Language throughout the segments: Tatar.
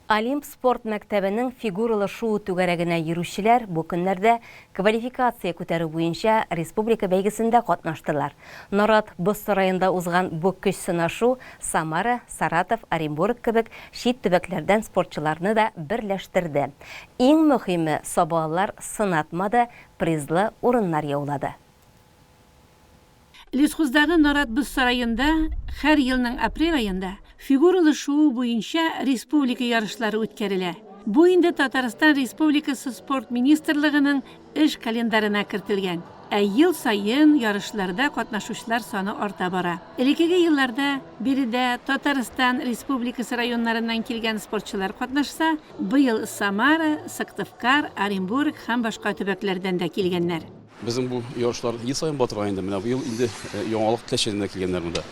Олимп спорт мәктәбенең фигуралы шуу түгәрәгенә йөрүчеләр бу көннәрдә квалификация күтәрү буенча республика бәйгесендә катнаштылар. Нарат боз сараенда узган бу көч сынашу Самара, Саратов, Оренбург кебек чит төбәкләрдән спортчыларны да берләштерде. Иң мөһиме, сабалылар сынатмады, призлы урыннар яулады. Лесхоздагы нарат боз сараенда хәр елның апрель аенда фигуралы шуу буенча республика ярышлары үткәрелә. Бу инде Татарстан Республикасы Спорт министрлыгының эш календарена кертелгән. Ә ел саен ярышларда катнашучылар саны арта бара. Элекеге елларда биредә Татарстан Республикасы районнарыннан килгән спортчылар катнашса, быел Самара, Сыктывкар, Оренбург һәм башка төбәкләрдән дә килгәннәр. Безнең бу ярышлар ел саен булып тора инде. Менә быел инде яңалык теләчәк генә килгәннәр монда.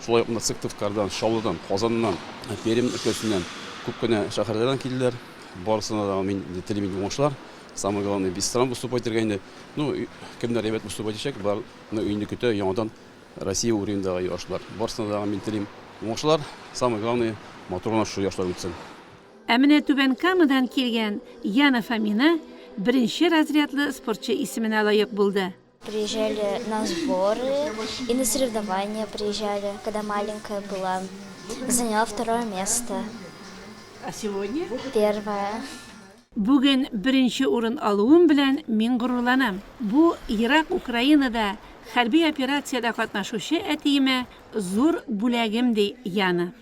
Шулай ук монда Сыктывкардан, Чаллыдан, Казаннан, Пермь өлкәсеннән күп кенә шәһәрләрдән килделәр. Барысына да мин телим инде уңышлар. Самое главное, без стран выступать итәргә инде. Ну, кемнәр әйбәт выступать итәчәк, бар ны инде көтә яңадан Россия уровеньдагы ярышлар. Барысына да мин телим уңышлар. Самое главное, матур гына шушы ярышлар үтсен. Ә менә Түбән Камадан килгән Яна Фомина беренче разрядлы спортчы исеменә лаек булды. Приезжали на сборы и на соревнования приезжали, когда маленькая была. Заняла второе место. А сегодня? Первое. Бүген беренче урын алуым белән мин горурланам. Бу ерак Украинада хәрби операциядә катнашучы әтиемә зур бүләгем, ди Яна.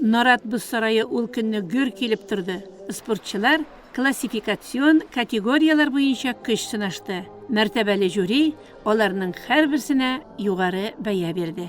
Нарат боз сарае ул көнне гөр килеп торды. Спортчылар классификацион категорияләр буенча көч сынашты. Мәртәбәле жюри аларның һәрберсенә югары бәя бирде.